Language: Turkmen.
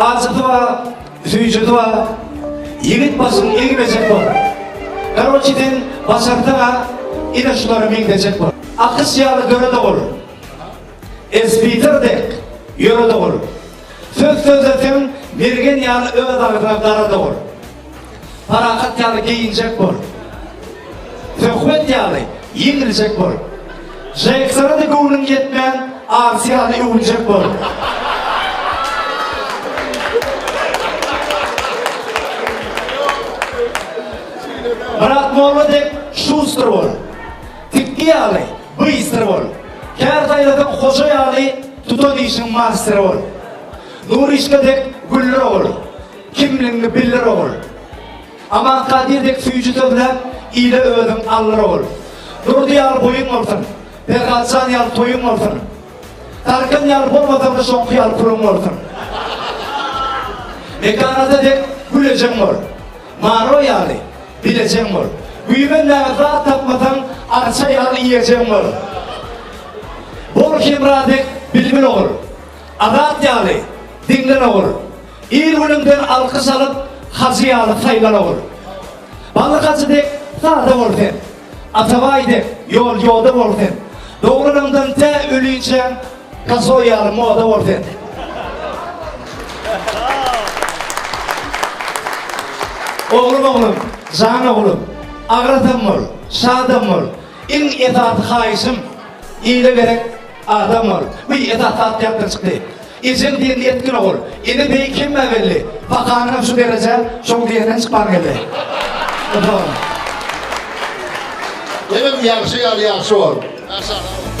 Ajysy bar, süýjüsi bar. Ýigit başyň egmejek bol. Garoçi sen başarsaň-a ine şulara meňzejek bol. Akyş ýaly dörede ol. Esbitar dek ýörede ol. Söz sözleseň mergen ýaly öz agzyňa garada ol. Parahat ýaly geýinjek bol. Söhbet ýaly ýeňiljek bol. Žeksara-da göwnüň ýetmän, arsy ýaly öwünjek bol. Myrat molla dek şustr bol. Tikgi ýaly bystr bol. Kär saýlasaň hoja ýaly tutan işiň masteri bol. Nurişka dek güller ogul. Kimligiňi bildir ogul. Aman Kadyr dek süýji sözläp, ile özüň aldyr ogul. Durdy ýaly boýuň bolsun, Perhat jan ýaly toýuň bolsun. Tarkan ýaly bolmasaň-da şoňky ýaly puluň bolsun. Mekan ata dek gül ejeň bol. Maro ýaly bilejeň bol. Güýmenmäge zat tapmasaň, arça ýaly iýejeň bol. Bol Hemra dek bilbil ogul. Azat ýaly diňlen ogul. Ir-günüňden alkyş alyp, hajy ýaly saýlan ogul. Bally hajy dek sada bol sen. Atabaý dek ýol-ýoda bol sen. Doglanyňdan tä ölinçä gazoý ýaly moda bol sen. Oglum, oglum, jan oglum, agradam bol, şadam bol. Iň esasy haýyşym, ile gerek Adam ol. Bu esasy zat ýatdan çykdy. Ejel diýen ýetgin ogul. Ene beýik hemmä belli. Pakanyňam şu derejä şoň diýenden çykman geldi. Utan. Inim ýagşy ýal ýagşy bol. Maşallah.